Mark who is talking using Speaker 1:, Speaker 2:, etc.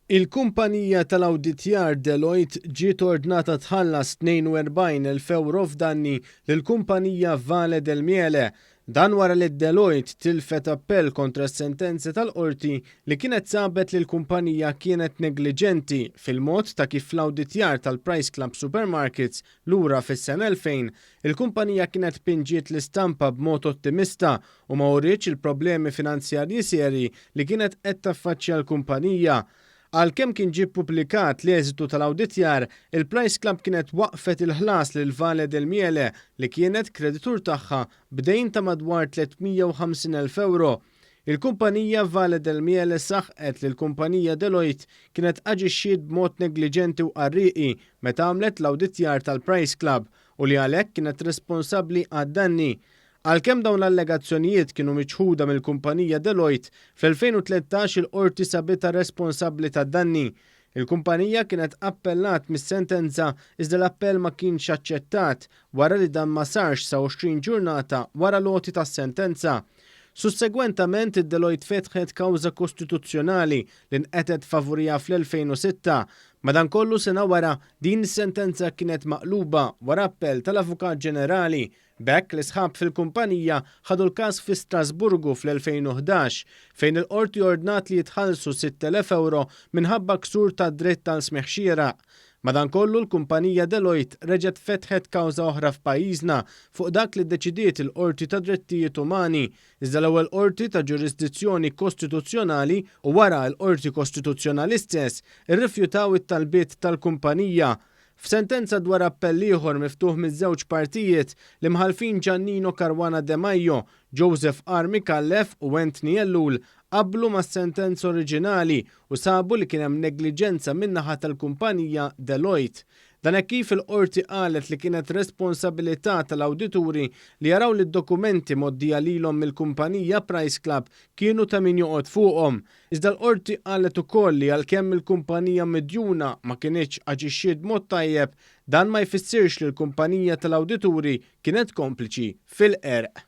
Speaker 1: Il-kumpanija tal-awditjar Deloitte ġiet ordnata tħallas 42,000 ewro f'danni lill-kumpanija Vale del Miele. Dan wara li Deloitte tilfet appell kontra s-sentenza tal-Qorti li kienet sabet li l-kumpanija kienet negliġenti fil-mod ta' kif fl-awditjar tal-Price Club Supermarkets lura fis-sena 2000, il-kumpanija kienet pinġiet l-istampa b'mod ottimista u ma urietx il-problemi finanzjarji serji li kienet qed taffaċċja l-kumpanija. Għalkemm kien ġie ppubblikat l-eżitu tal-awditjar, il-Price Club kienet waqqfet il-ħlas lil Vale del Miele, li kienet kreditur tagħha, b'dejn ta' madwar 350,000 ewro. Il-kumpanija Vale del Miele saħqet li l-kumpanija Deloitte kienet aġixxiet b'mod negliġenti u qarrieqi meta għamlet l-awditjar tal-Price Club u li għalhekk kienet responsabbli għad-danni. Għalkemm dawn l-allegazzjonijiet kienu miċħuda mill-kumpanija Deloitte, fl-2013 il-Qorti sabitha responsabbli tad-danni. Il-kumpanija kienet appellat mis-sentenza iżda l-appell ma kienx aċċettat wara li dan ma sarx sa 20 ġurnata wara l-għoti tas-sentenza. Sussegwentament, Deloitte fetħet kawża kostituzzjonali li nqetet favuriha fl-2006. Madankollu, sena wara, din is-sentenza kienet maqluba wara appell tal-Avukat Ġenerali. B'hekk, l-isħab fil-kumpanija ħadu l-każ fi Strasburgu fl-2011, fejn il-Qorti ordnat li jitħallsu 6,000 ewro minħabba ksur tad-dritt għal smigħ xieraq. Madankollu, l-kumpanija Deloitte reġgħet fetħet kawża oħra f'pajjiżna fuq dak li ddeċidiet il-Qorti tad-Drittijiet Umani, iżda l-ewwel qorti ta' ġurisdizzjoni kostituzzjonali u wara l-Qorti Kostituzzjonali stess irrifjutaw it-talbiet tal-kumpanija F'sentenza dwar appell ieħor miftuħ miż-żewġ partijiet, l-Imħallfin Giannino Caruana Demajo, Joseph R. Micallef u Anthony Ellul qablu mas-sentenza oriġinali u sabu li kien hemm negliġenza min-naħa tal-kumpanija Deloitte. Dan hekk kif il-Qorti qalet li kienet responsabilità tal-awdituri li jaraw li d-dokumenti mgħoddija lilhom mill-kumpanija Price Club kienu ta' min joqgħod fuqhom, Iżda l-Qorti qalet ukoll li għalkemm il-kumpanija midjuna ma kinitx aġixxiet b'mod tajjeb, dan ma jfissirx li l-kumpanija tal-awdituri kienet kompliċi fil-qerq.